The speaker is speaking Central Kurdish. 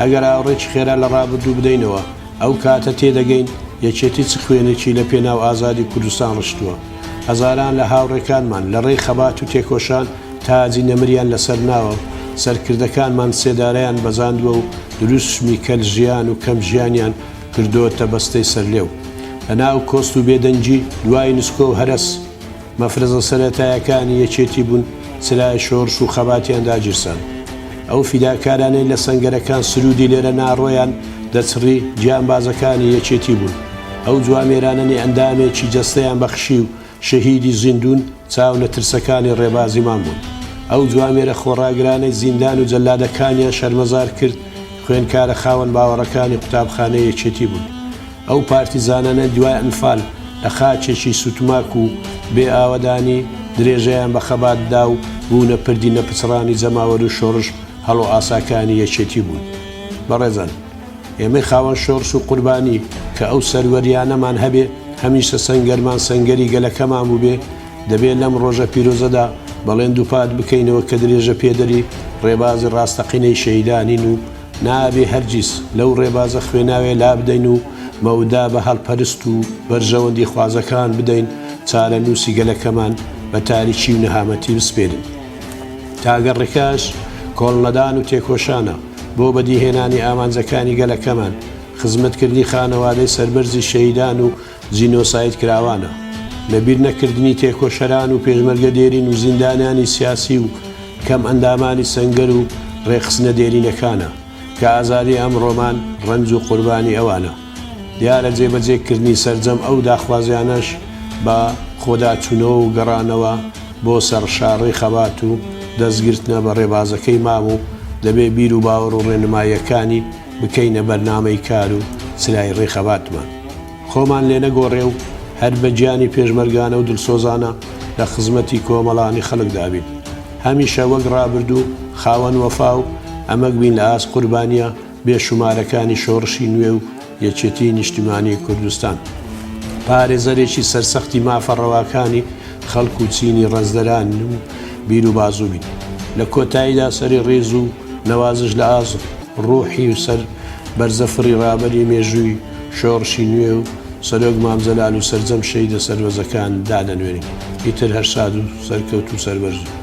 ئەگەر ئاوڕێکی خێرا لە ڕابردوو بدەینەوە، ئەو کاتە تێدەگەین یەکێتی چ خوێنێکی لە پێناو ئازادی کوردستان ڕشتووە. هەزاران لە هاوڕێکانمان لە ڕێی خەبات و تێکۆشان تاجی نەمریان لە سەر ناوە و سەرکردەکانمان سێدارەیان بەزاندووە و دروشمی کەل ژیان و کەم ژیانیان کردۆتە بەستەی سەرلێو. لە ناو کۆست و بێدەنگی دوای نسکۆ و هەرەس، مەفرەزە سەرەتایەکانی یەکێتی بوون، چرای شۆڕش و خەباتیان داگیرساند. ئەو فیداکارانەی لە سەنگەرەکان سروودی لێرە ناڕۆیان دەچڕی، گیانبازەکانی یەکێتی بوون. ئەو جوامێرانەی ئەندامێکی جەستەیان بەخشی و شەهیدی زیندوون، چاونەترسەکانی ڕێبازیمان بوون. ئەو جوامێرە خۆڕاگرانەی زیندان و جەلادەکانیان شەرمەزار کرد، خوێندکارە خاوەن باوەڕەکانی قوتابخانەی یەکێتی بوون. ئەو پارتیزانانەی دوای ئەنفال لە خاکێکی سوتماک و بێ ئاوەدانی، درێژەیان بە خەبات دا و بوونە پردی نەپچڕانی جەماوەر و شۆڕش هەڵۆئاساکانی یەکێتی بوون. بەڕێزان، ئێمەی خاوەن شۆڕش و قوربانی، کە ئەو سەروەرییانەمان هەبێ، هەمیشە سەنگەرمان سەنگەری گەلەکەمان بووبێ، دەبێ لەم ڕۆژە پیرۆزەدا بەڵێن دووپات بکەینەوە کە درێژەپێدەری ڕێبازی ڕاستەقینەی شەهیدانین و، نابێ هەرگیز لەو ڕێبازە خوێناویە لابدەین و مەودا بە هەلپەرست و بەرژەوەندی خوازەکان بدەین چارەنووسی گەلەکەمان بە تاریکی و نەهامەتی بسپێرین. تاگە ڕێکاش کۆڵنەدان و تێکۆشانە بۆ بەدیهێنانی ئامانجەکانی گەلەکەمان، خزمەتکردنی خانەوادەی سەربەرزی شەهیدان و جینۆساید کراوانە. لە بیر نەکردنی تێکۆشەران و پێشمەرگە دێرین و زیندانیانی سیاسی و کەم ئەندامانی سەنگەر و ڕێکخستنە دێرینەکانە کە ئازادی ئەمڕۆمان ڕەنج و قوربانی ئەوانە. دیارە جێبەجێ کردنی سەرجەم ئەو داخوازیانەش بە خۆداچوونەوە و گەڕانەوە بۆ سەر شاڕێی خەبات و دەست گرتنە بە ڕێبازەکەی مام و دەبێ بیر و باوەڕ و ڕێنماییەکانی بکەینە بەرنامەی کار و چرای ڕێخەباتمان خۆمان لێ نەگۆڕێ و هەر بە گیانی پێشمەرگانە و دلسۆزانە لە خزمەتی کۆمەڵانی خەڵکدا بین هەمیشە وەک ڕابردوو خاوەن وەفا و ئەمەگ بین لە ئاست قوربانیە بێ شومارەکانی شۆڕشی نوێ و یەکێتی نیشتیمانی کوردستان پارێزەرێکی سەرسەختی مافە ڕەواکانی خەڵک و چینی ڕەزدەران و بیر و بازوو بین لە کۆتاییدا سەری ڕێز و نەوازش لە ئازم. ڕوحی و سەر بەرزە فڕی ڕابەری مێژووی شۆڕشی نوێ و سەرۆک مام جەلال و سەرجەم شەهیدە سەربەزەکان دادەنوێنین ئیتر هەر شاد و سەرکەوت و سەربەرز و.